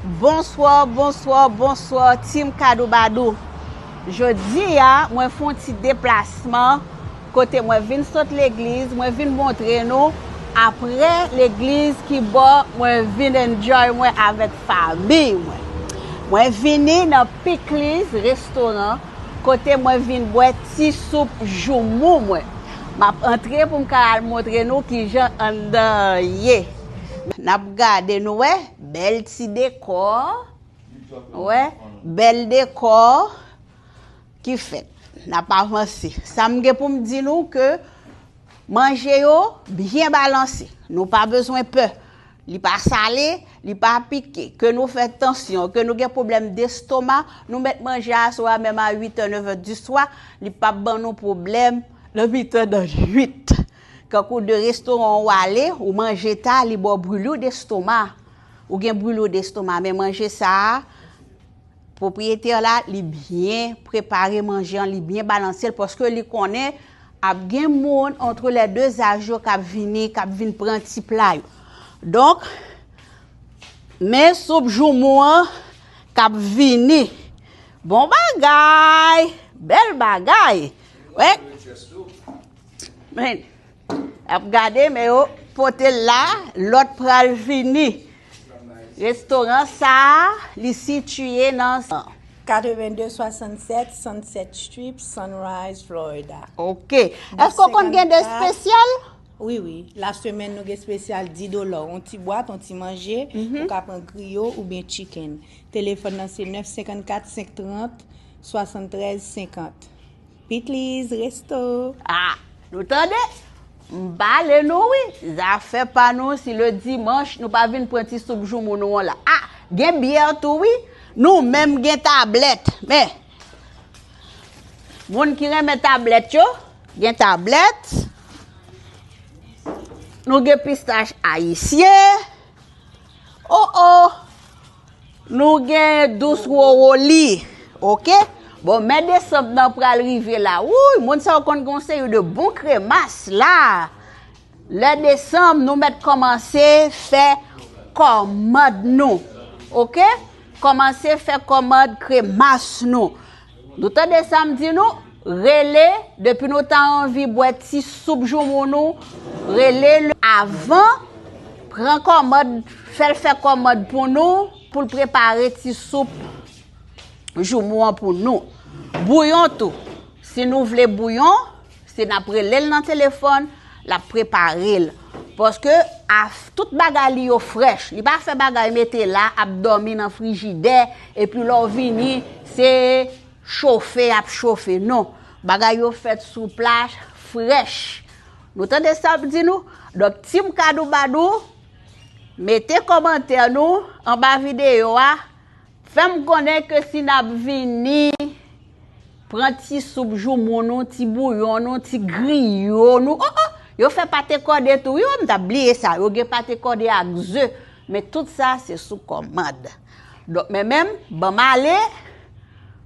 Bonsoir bonsoir bonsoir team kadoubadou jodi a mwen fon ti deplasman kote mwen vin sot legliz mwen vin montre nou aprè legliz ki bò mwen vin enjoy mwen avèk famiy mwen mwen vini nan pikliz restoran kote mwen vin bwè ti soup joumou mwen map antre poum ka al montre nou kijan anndan an ye nap gade nou wè. Bèl ti dekò, wè, bèl dekò ki fèt. N ap avanse. Sa m gen pou m di nou ke manje yo byen balanse. Nou pa bezwen pè. Li pa sale, li pa pike. Ke nou fè tansyon, ke nou gen pwoblèm destoma, nou met manje a sou a menm a 8 è, 9 è di swa, li p ap ban nou pwoblèm nan mitan nan nwit. Kankou de restoran ou ale, ou manje ta, li ba w brulure d'estomac. Ou gen brulure d'estomac, men manje sa a, pwopriyetè la, li byen prepare manje an, li byen balanse l, paske li konnen ap gen moun antre lè de zaj yo k ap vini, k ap vin pran ti pla yo. Donk, men soup joumou an k ap vini. Bon bagay! Bèl bagay! Wè! Men, ap gade men yo pote l la, lòt pral vini. Restoran sa a, li sitiye nan. 8267 Sunset Strip, Sunrise, Florida. Ok. Èske w konn gen de espesyal? Wi, wi. La semèn nou gen espesyal 10 dola, yon ti bwat, yon ti manje, mhm. ou ka pran griyo ou byen chicken. Telefòn nan se 954 530 73 50. Pitliz resto ah nou tande m pale nou wi zafè pa nou si le dimanche nou pa vin pran ti soup joumou nou an la ah gen bière tou wi nou menm gen tablèt men moun ki renmen tablèt yo gen tablèt nou gen pistach ayisyen oh oh Nou gen dous roro li ok. Bon mè desanm nan pral rive la wouyy moun sa yo konn gen yon seri de bon kremas la lè desanm nou mèt kòmanse fè kòmand nou ok kòmanse fè kòmand kremas nou Nou tande sa m di nou? Rele, depi nou ta anvi bwè ti soup joumou nou, rele l avan, pran kòmand, fè l fè kòmand pou nou, pou l prepare ti soup joumou an pou nou. Bouyon tou, si nou vle bouyon. Se nap relel nan telefòn, lap preparel. Paske af tout bagay li yo frèch. Li pa fè bagay mete la ap dòmi nan frijidè epi lè w vini se chofe yap chofe non. Bagay yo fèt sou plas frèch. Nou tande sap di nou? Donk team kadoubadou mete kòmantè nou anba videyo a Fèm konnen ke si nap vini pran ti soup joumou nou, ti bouyon nou, ti griyo nou oh oh yo fè pate kòde tou wi oh m tap bliye sa yo gen pate kòde ak ze men tout sa se sou kòmand donk men menm banm ale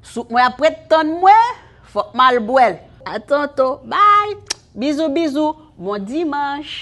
soup mwen ap ret tann mwen fòk mal bwèl. A tantôt bye Bisous bisous bon dimanche.